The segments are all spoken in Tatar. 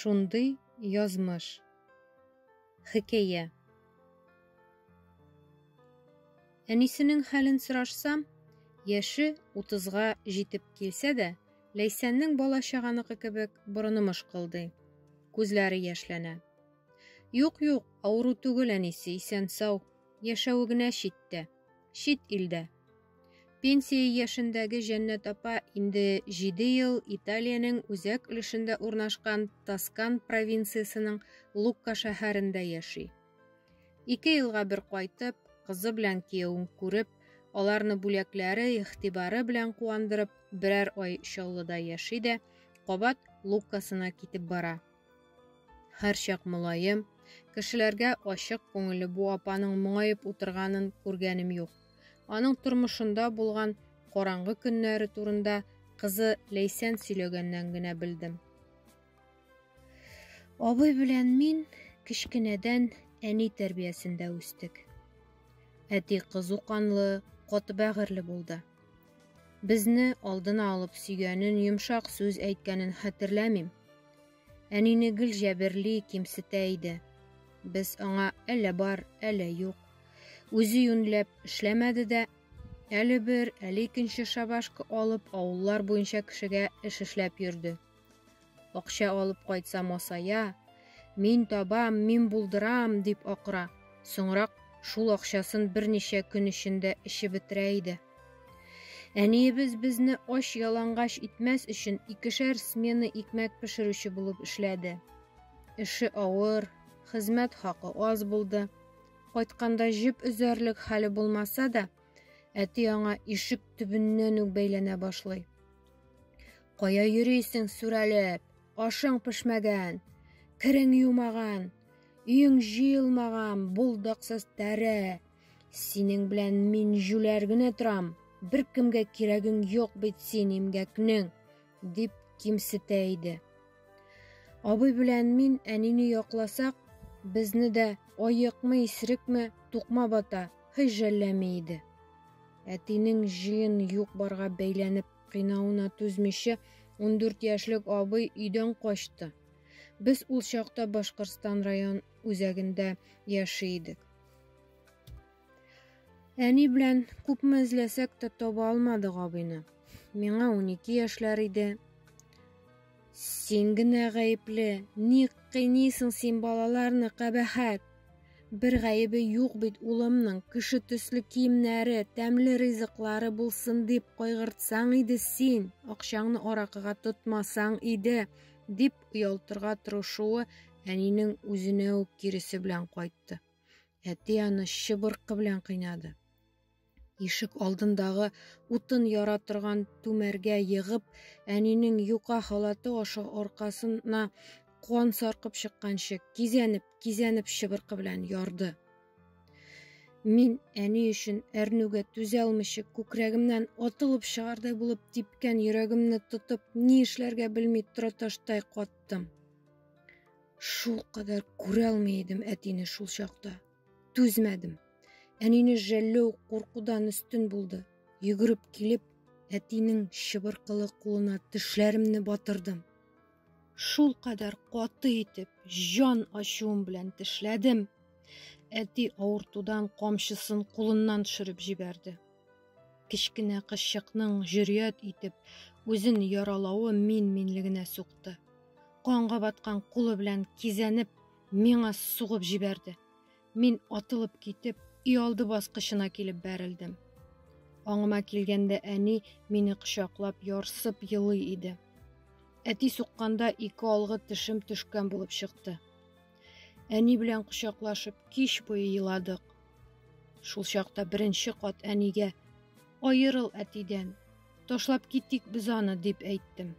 Шундый язмыш. Хикәя. Әнисенең хәлен сорашсам, яше утызга җитеп килсә дә, Ләйсәннең бала-чаганыкы кебек борыны мышкылдый, күзләре яшьләнә. Юк, юк, авыру түгел әнисе, исән-сау, яшәве генә читтә, чит илдә. Пенсия яшендәге Җәннәт апа инде җиде ел Италиянең үзәк өлешендә урнашкан Тоскан провинциясенең Лукка шәһәрендә яши. Ике елга бер кайтып, кызы белән киявен күреп, аларны бүләкләре, игътибары белән куандырып, берәр ай Чаллыда яши дә, кабат Луккасына китеп бара. Һәрчак мулаем, кешеләргә ачык күңелле бу апаның моңаеп утырганын күргәнем юк. Аның тормышында булган караңгы көннәре турында кызы Ләйсән сөйләгәннән генә белдем. Абый белән мин кечкенәдән әни тәрбиясендә үстек. Әти кызу канлы, каты бәгырьле булды. Безне алдына алып сөйгәнен, йомшак сүз әйткәнен хәтерләмим. Әнине гел җәберли, кимсетә иде. Без аңа әллә бар, әллә юк. Үзе юньләп эшләмәде дә, әле бер, әле икенче шабашка алып, авыллар буенча кешегә эш эшләп йөрде. Акча алып кайтса масая, мин табам, мин булдырам, дип акыра. Соңрак шул акчасын берничә көн эчендә эчеп бетерә иде. Әниебез безне ач ялангач итмәс өчен икешәр смена икмәк пешерүче булып эшләде. Эше авыр, хезмәт хакы аз булды. Кайтканда җеп өзәрлек хәле булмаса да, әти аңа ишек төбеннән үк бәйләнә башлый. Кая йөрисең сүрәлеп? Ашың пешмәгән, керең юмаган, өең җыелмаган, булдыксыз тәре. Синең белән мин җүләр генә торам. Беркемгә кирәгең юк бит син имгәкнең, дип кимсетә иде. Абый белән мин әнине якласак, безне дә аекмы, исерекме, тукма бата, һөҗәлләми иде. Әтинең җыен юк-барга бәйләнеп Кыйнауына түзмичә, 14 яшьлек абый өйдән качты. Без ул чакта Башкортстан район үзәгендә яши идек. Әни белән күпме эзләсәк тә таба алмадык абыйны. Миңа 12 яшьләр иде. Син генә гаепле, ник кыйныйсың син балаларны, кабәхәт! Бер гаебе юк бит улымның, кеше төсле киемнәре, тәмле ризыклары булсын дип кайгыртсаң иде син, акчаңны аракыга тотмасаң иде, дип оялтырга тырышуы әнинең үзенә үк киресе белән кайтты. Әти аны чыбыркы белән кыйнады. Ишек алдындагы утын яра торган түмәргә егып, әнинең юка халаты аша аркасына куан саркып чыкканчы, кизәнеп, кизәнеп чыбыркы белән ярды. Мин әни өчен әрнүгә түзә алмыйча күкрәгемнән атылып чыгардай булып типкән йөрәгемне тотып, ни эшләргә белми тораташтай каттым. Шул кадәр күрә алмый идем әтине шул чакта. Түзмәдем. Әнине жәлләү куркудан өстен булды. Йөгереп килеп, әтинең чыбыркылы кулына тешләремне батырдым. Шул кадәр каты итеп, җан ачуым белән тешләдем. Әти авыртудан камчысын кулыннан төшереп җибәрде. Кечкенә кызчыкның җөрьят итеп үзен яралавы мин-минлегенә сукты. Канга баткан кулы белән кизәнеп, Миңа сугып җибәрде. Мин атылып китеп, иалды баскычына килеп бәрелдем. Аңыма килгәндә әни мине кочаклап, ярсып елый иде. Әти сукканда ике алгы тешем төшкән булып чыкты. Әни белән кочаклашып, кич буе еладык. Шул чакта беренче кат әнигә «Аерыл әтидән, ташлап китик без аны» дип әйттем.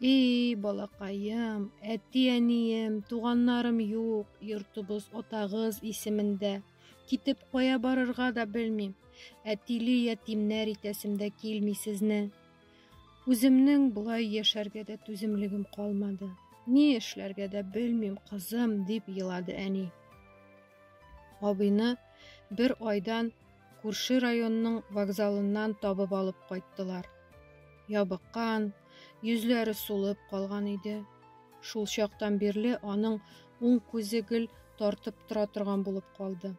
И, балакаем, әти-әнием, туганнарым юк, йортыбыз атагыз исемендә. Китеп кая барырга да белмим. Әтиле ятимнәр итәсем дә килми сезне. Үземнең болай яшәргә дә түземлегем калмады. Ни эшләргә дә белмим, кызым, дип елады әни. Абыйны бер айдан Күрше районның вокзалыннан табып алып кайттылар. Ябыккан, йөзләре сулып калган иде. Шул чактан бирле аның уң күзе гел тартып тора торган булып калды.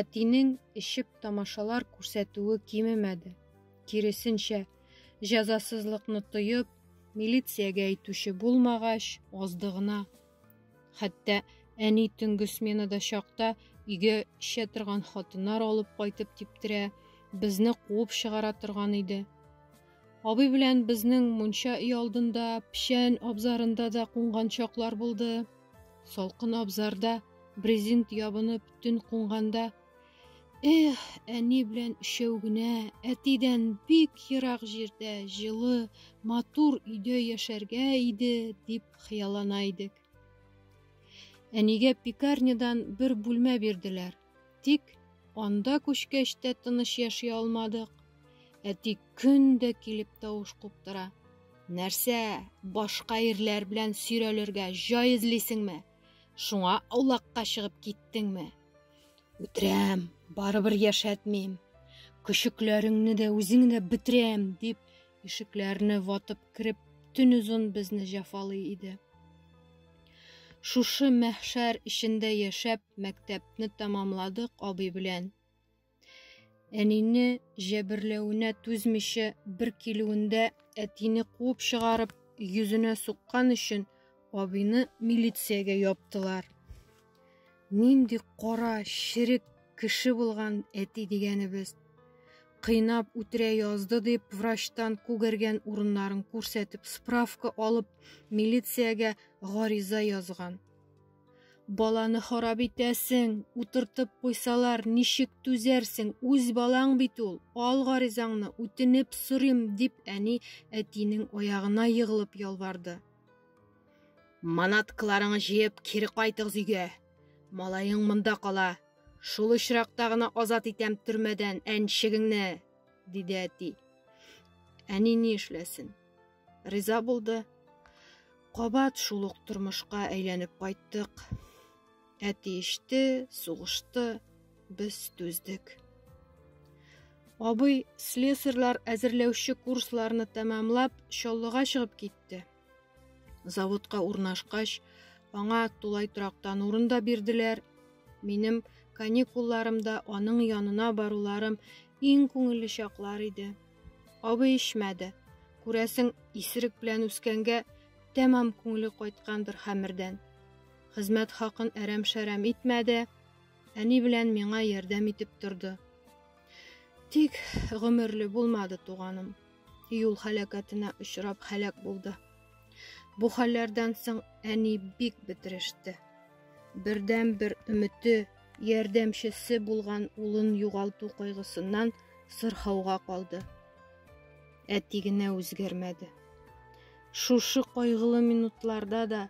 Әтинең эчеп тамашалар күрсәтүе кимемәде. Киресенчә, җәзасызлыкны тоеп, милициягә әйтүче булмагач, азды гына Хәтта әни төнге сменада чакта өйгә эчә торган хатыннар алып кайтып типтерә, безне куып чыгара торган иде. Абый белән безнең мунча өй алдында, печән абзарында да кунган чаклар булды. Салкын абзарда брезент ябынып төн кунганда Эх, әни белән өчәү генә, әтидән бик ерак җирдә, җылы, матур өйдә яшәргә иде, дип хыяллана идек. Әнигә пекарнядан бер бүлмә бирделәр. Тик анда күчкәч тә тыныч яши алмадык. Әти көн дә килеп тавыш куптыра. Нәрсә, башка ирләр белән сөйрәлергә җай эзлисеңме? Шуңа аулакка чыгып киттеңме? Үтерәм, барыбер яшәтмим. Көчекләреңне дә, үзеңне дә бетерәм, дип, ишекләрне ватып кереп, төн озын безне җафалый иде. Шушы мәхшәр эчендә яшәп, мәктәпне тәмамладык абый белән. Әнине җәберләвенә түзмичә бер килүендә әтине куып чыгарып, йөзенә суккан өчен абыйны милициягә яптылар. Нинди кара, черек кеше булган әти дигәнебез. Кыйнап үтерә язды дип врачтан күгәргән урыннарын күрсәтеп справка алып, милициягә гариза язган. Баланы харап итәсең, утыртып куйсалар, ничек түзәрсең, үз балаң бит ул, ал гаризаңны, үтенеп сорыйм, дип әни әтинең аягына егылып ялварды. Манаткаларыңны җыеп кире кайтыгыз өйгә. Малаең монда кала. Шул очракта гына азат итәм төрмәдән әнчегеңне, диде әти. Әни ни эшләсен? риза булды. Кабат шул ук тормышка әйләнеп кайттык. Әти иште, сугышты, без түздек. Абый слесарьлар әзерләүче курсларны тәмамлап, Чаллыга чыгып китте. Заводка урнашкач, аңа тулай торактан урын да бирделәр. Минем каникулларымда аның янына баруларым иң күңелле чаклар иде. Абый ишмәде. Күрәсең, исерек белән үскәнгә тәмам күңеле кайткандыр хәмердән. Хезмәт хакын әрәм-шәрәм итмәде, әни белән миңа ярдәм итеп торды. Тик гомерле булмады туганым. Юл халәкәтенә очрап халәк булды. Бу хәлләрдән соң әни бик бетереште. Бердәнбер өмете, ярдәмчесе булган улын югалту кайгысыннан сырхауга калды. Әти генә үзгәрмәде. Шушы кайгылы минутларда да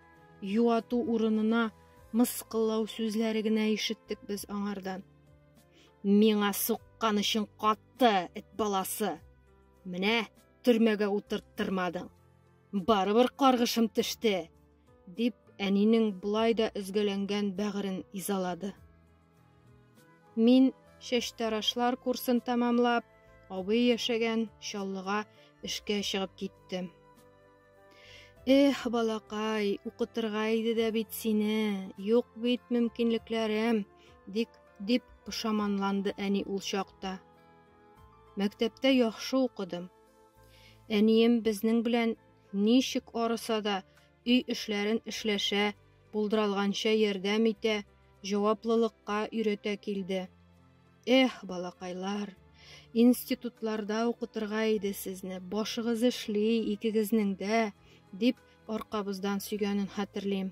юату урынына мыскыллау сүзләре генә ишеттек без аңардан. Миңа суккан өчен катты, эт баласы. Менә төрмәгә утырттырмадың. Барыбер каргышым төште. Дип, әнинең болай да өзгәләнгән бәгырен изалады. Мин чәчтарашлар курсын тәмамлап, абый яшәгән Чаллыга эшкә чыгып киттем. Эх, балакай, укытырга иде дә бит сине, юк бит мөмкинлекләрем, дик, дип пошаманланды әни ул чакта. Мәктәптә яхшы укыдым. Әнием безнең белән Ничек арыса да, өй эшләрен эшләшә, булдыралганча ярдәм итә, җаваплылыкка өйрәтә килде. Эх, балакайлар, институтларда укытырга иде сезне, башыгыз эшли, икегезнең дә, дип аркабыздан сөйгәнен хәтерлим.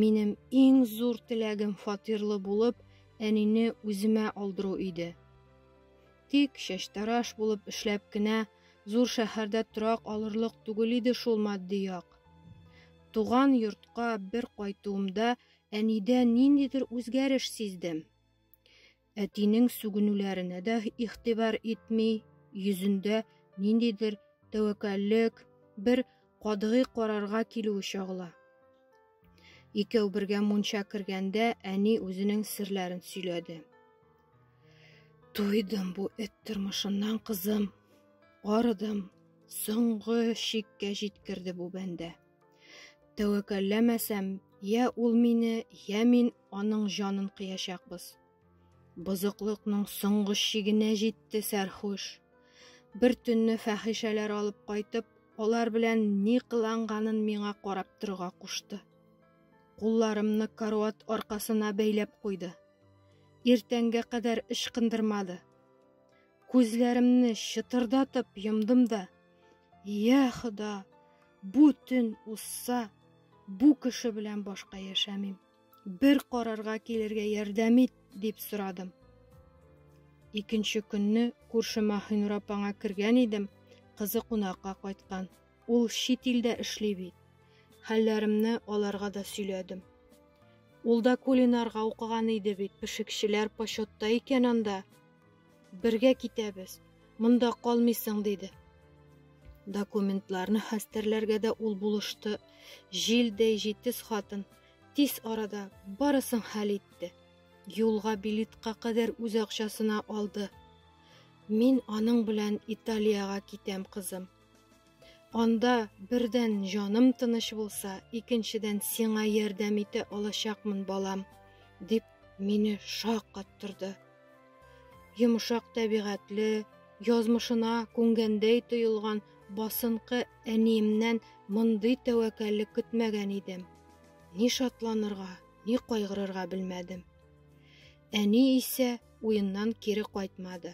Минем иң зур теләгем фатирлы булып, әнине үземә алдыру иде. Тик чәчтараш булып эшләп кенә зур шәһәрдә торак алырлык түгел иде шул матди як. Туган йортка бер кайтуымда әнидә ниндидер үзгәреш сиздем. Әтинең сүгенүләренә дә игътибар итми, йөзендә ниндидер тәвәккәллек, бер кадгый карарга килүе чагыла. Икәү бергә мунча кергәндә әни үзенең серләрен сөйләде. Туйдым бу эт тормышыннан, кызым. Арыдым. Соңгы чиккә җиткерде бу бәндә. Тәвәккәлләмәсәм, я ул мине, я мин Аның җанын кыячакбыз. Бозыклыкның соңгы чигенә җитте сәрхуш. Бер төнне фәхишәләр алып кайтып, алар белән ни кыланганын миңа карап торырга кушты. Кулларымны каруат аркасына бәйләп куйды. Иртәнгә кадәр ычкындырмады. Күзләремне чытырдатып йомдым да, "Я Хода, бу төн узса, бу кеше белән башка яшәмим". Бер карарга килергә ярдәм ит, дип сорадым. Икенче көнне күрше Маһинур апаңа кергән идем, кызы кунакка кайткан. Ул чит илдә эшли бит. Хәлләремне аларга да сөйләдем. Ул да кулинарга укыган иде бит, пешекчеләр почетта икән анда. Бергә китәбез. Монда калмыйсың, диде. Документларны хәстәрләргә дә ул булышты. Җилдәй җитез хатын тиз арада барысын хәл итте. Юлга билетка кадәр үз акчасына алды. Мин аның белән Италиягә китәм, кызым. Анда бердән җаным тыныч булса, икенчедән сиңа ярдәм итә алачакмын, балам, дип мине шаккаттырды. Йомшак тәбигатьле, язмышына күнгәндәй тоелган басынкы әниемнән мондый тәвәккәллек көтмәгән идем. Ни шатланырга, ни кайгырырга белмәдем. Әни исә уеннан кире кайтмады.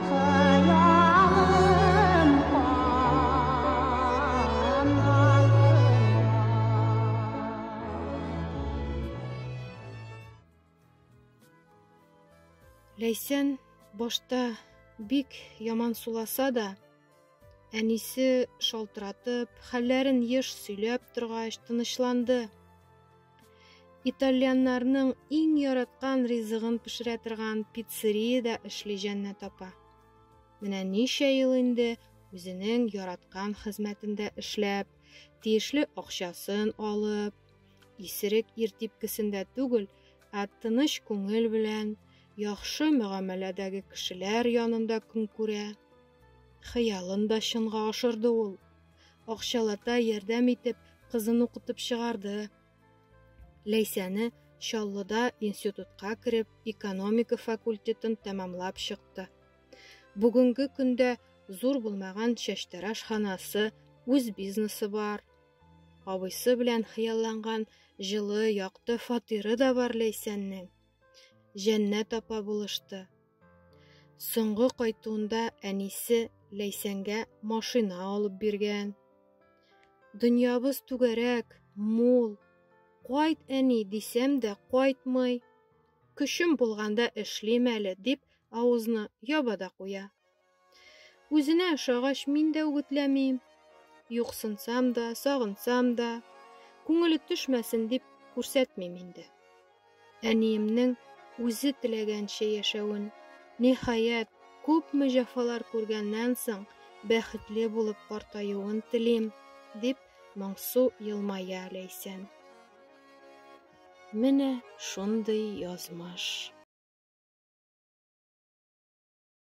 Ләйсән башта бик яман суласа да, әнисе шалтыратып, хәлләрен еш сөйләп торгач, тынычланды. Итальяннарның иң яраткан ризыгын пешерә торган пиццериядә эшли җәннәт апа. Менә ничә ел инде үзенең яраткан хезмәтендә эшләп, тиешле акчасын алып, исерек ир типкесендә түгел, ә тыныч күңел белән яхшы мөгамәләдәге кешеләр янында көн күрә. Хыялын да чынга ашырды ул. Акчалата ярдәм итеп, кызын укытып чыгарды. Ләйсәне Чаллыда институтка кереп, экономика факультетын тәмамлап чыкты. Бүгенге көндә зур булмаган чәчтәраш ханасы, үз бизнесы бар. Абыйсы белән хыялланган җылы, якты фатиры да бар Ләйсәннең. Җәннәт апа булышты. Соңгы кайтуында әнисе Ләйсәнгә машина алып биргән. Дөньябыз түгәрәк, мул. Кайт, әни, дисәм дә кайтмый. Көчем булганда эшлим әле, дип авызны яба да куя. Үзенә ошагач, мин дә үгетләмим. Юксынсам да, сагынсам да, күңеле төшмәсен дип күрсәтмим инде. Әниемнең үзе теләгәнчә яшәвен, ниһаять, күпме җәфалар күргәннән соң, бәхетле булып картаюын телим, дип моңсу елмая Ләйсән. Менә шундый язмыш.